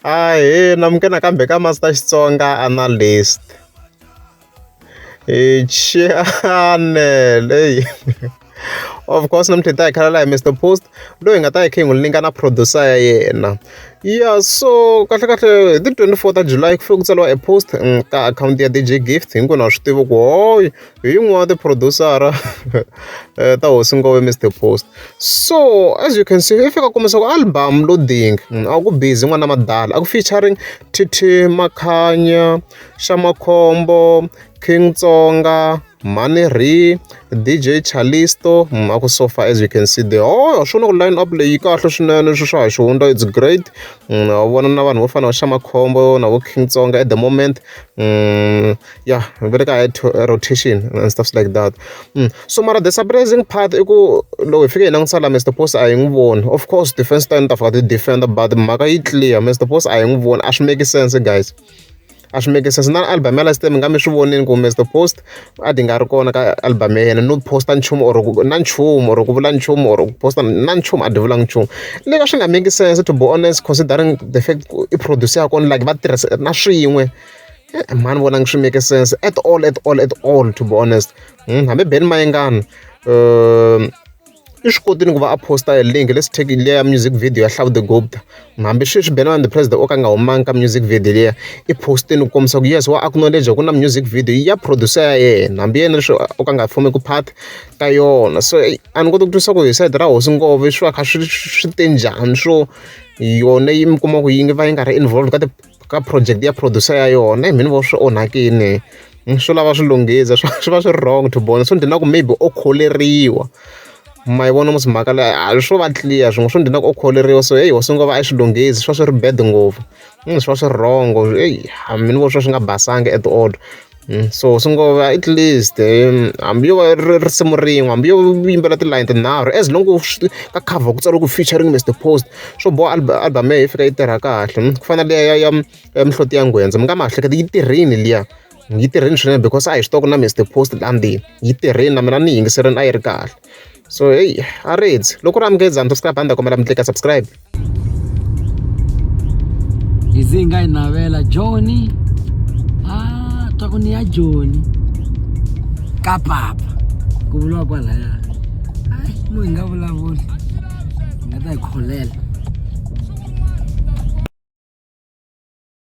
Ahee nimuka nakambe ka Master Xitsonga Analyst. Channel heyi of course namuntlha hi ta hi khala laha hi Mister Post loyi hi nga ta hi kha hi n'wi linga na producer ya yena. Ya so kahlekahle hi ti twenty four ta July ku fike ku tsariwa e post ka akhawunti ya DJ Gift hinkwenu ha swi tiva ku hoyoo hi yin'wana ya tiphurodiwusara eh, ta hosi ngove mr post so as you can see i fika kumisa ku album loading mm, a ku busy n'wana madala a ku featuring tt makhanya xamakhombo king tsonga mani ri dj chalisto mm, a ku so far as you can see the oh swi na ku line up leyi kahle swinene swi swa ha xi hundza it's great mm, a vona na vanhu vo fana va xa makhombo na vo king tsonga at the moment mm, ya ni vele ka high rotation and stuffs like that mm. so mara the surprising part i ku loko hi fike hi langutisa la mr post a hi n'wi voni of course defense ta ni ta fika ti defender but mhaka yi clear mr post a hi n'wi voni a swi make sense guys a swi make sense na album ya last time mi nga mi swi vonini ku mr post a di nga ri kona ka album ya yena no posta nchumu or na nchumu or ku vula nchumu or ku posta na nchumu a di vulanga nchumu le ka swi nga make sense to be honest considering the fact i producer ya kona like va tirhisa na swin'we Eh, mhani vona ngi swi make sense at all at all at all to be honest hmm, hambi ben mayengana um i swi kotini ku va a posta hi link let's take leya music video ya hlavu the gopta hambi sweswi ben the president o ka nga humangi ka music video leya i postini ku kombisa ku yes wa acknowledge ku na music video ya producer ya yena hambi yena leswi o ka nga fumi ku part ka yona so a ni koti ku twisa ku hi side ra hosi ngove swi va kha swi swi te njhani swo yona yi mi kuma ku yi ngi va yi nga ri involved ka ka project ya producer ya yona i mhani vo swi onhakini hmm, swi lava swi lunghisa swi va swi ri wrong to bona swi ndhina ku maybe o kholeriwa ma yi vona musi mhaka leyi a swo va clear swin'we swi ndhina ku o kholeriwa so heyi wasi ngo va a swi lunghisi swi va swi ri bad ngopfu hmm, swi va swi ri wrong eyi mina vo swi va swi nga basanga at all Mm, so swi ngo va at least um, hambi yo va ri risimu rin'we hambi yo yimbela tilayini tinharhu as long ku swi- ka cover ku tsariwe ku featuring mr post swo boha alba- album ya yi fika yi tirha kahle mm, ku fana leya ya ya ya mihloti ya ngwendza mi nga ma hleketi yi tirhini liya yi tirhini swinene because a hi swi tiva ku na mr post landini yi tirhini na mina ni yingiserini a yi ri kahle so heyi a ri heti loko ri amukeli zanto sika banda kombela mi tleka subscribe izi nga yi navela joni a ah, twa ku ni ya joni ka papa ku vuriwa kwalaya ayi mu hi nga vulavuli hi nga ta hi kholela